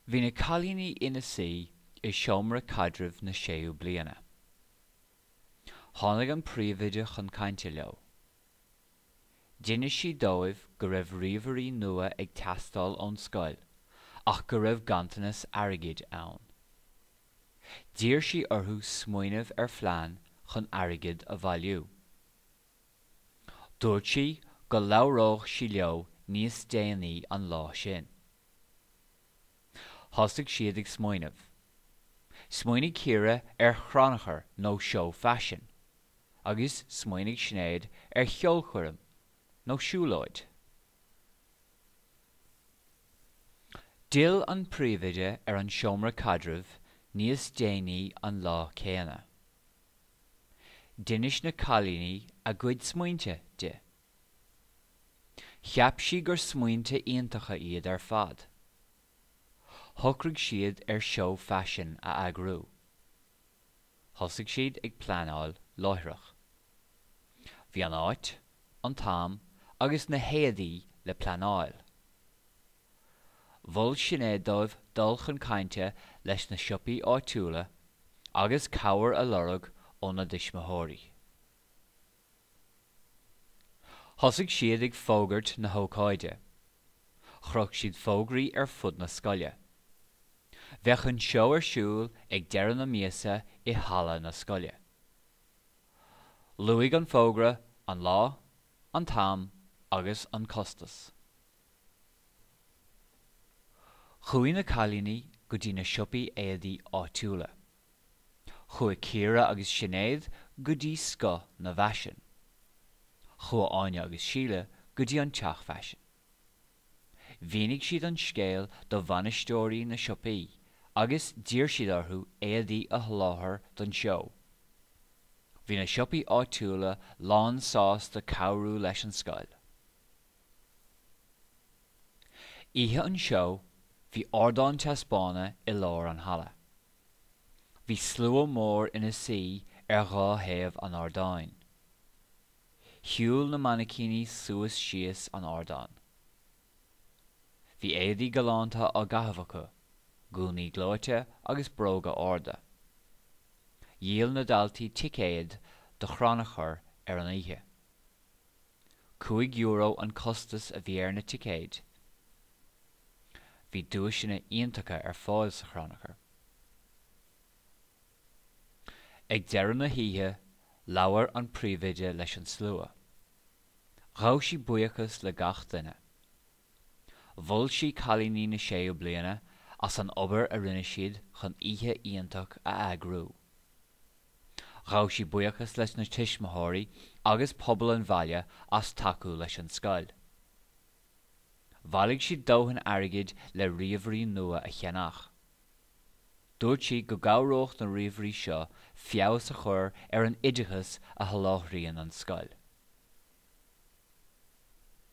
Bhí na cailíní ina suí i seomra caidrimh na séú bliana. Tháinig an príomhoide chun cainte leo. D'inis sí dóibh go raibh ríomhairí nua ag teastáil ón scoil ach go raibh ganntanas airgid ann. D'iarr sí orthu smaoineamh ar phlean chun airgid a bhailiú. Dúirt sí go labhródh sí leo níos déanaí an lá sin. Thosaigh siad ag smaoineamh. Smaoinigh Ciara ar chrannchur nó seó faisin agus smaoinigh Sinéad ar cheolchoirm nó siúlóid. D'fhill an príomhoide ar an seomra caidrimh níos déanaí an lá céanna. D'inis na cailíní a gcuid smaointe di. Cheap sí gur smaointe iontacha iad ar fad. Shocraigh siad ar seó faisin a eagrú. Thosaigh siad ag pleanáil láithreach. Bhí an áit, an t-am agus na héadaí le pleanáil. Mhol Sinéad dóibh dul chun cainte leis na siopaí áitiúla agus cabhair a lorg óna dtuismitheoirí. Thosaigh siad ag fógairt na hócáide. Chroch siad fógraí ar fud na scoile. Bheadh an seó ar siúl ag deireadh na míosa i halla na scoile. Luaigh an fógra an lá, an t-am agus an costas. Chuaigh na cailíní go dtí na siopaí éadaí áitiúla. Chuaigh Ciara agus Sinéad go dtí Scoth na bhFaisean. Chuaigh Áine agus Síle go dtí An Teach Faisin. Mhínigh siad an scéal do bhainisteoirí na siopaí agus d'iarr siad orthu éadaí a sholáthar don seó. Bhí na siopaí áitiúla lánsásta cabhrú leis an scoil. Oíche an seó, bhí ardán taispeána i lár an halla. Bhí slua mór ina suí ar dhá thaobh an ardáin. Shiúil na mainicíní suas síos an ardán. Bhí éadaí galánta á gcaitheamh acu, gúnaí gleoite agus bróga arda. Dhíol na daltaí ticéid do chrannchur ar an oíche. Cúig euro an costas a bhí ar na ticéid. Bhí duaiseanna iontacha ar fáil sa chrannchur. Ag deireadh na hoíche labhair an príomhoide leis an slua. Ghabh sí buíochas le gach duine. Mhol sí cailíní na séú bliana as an obair a rinne siad chun oíche iontach a eagrú. Ghabh sí buíochas leis na tuismitheoirí agus pobal an bhaile as tacú leis an scoil. Bhailigh siad dóthain airgid le ríomhairí nua a cheannach. Dúirt sí go gcabhródh na ríomhairí seo feabhas a chur ar an oideachas a sholáthraíonn an scoil.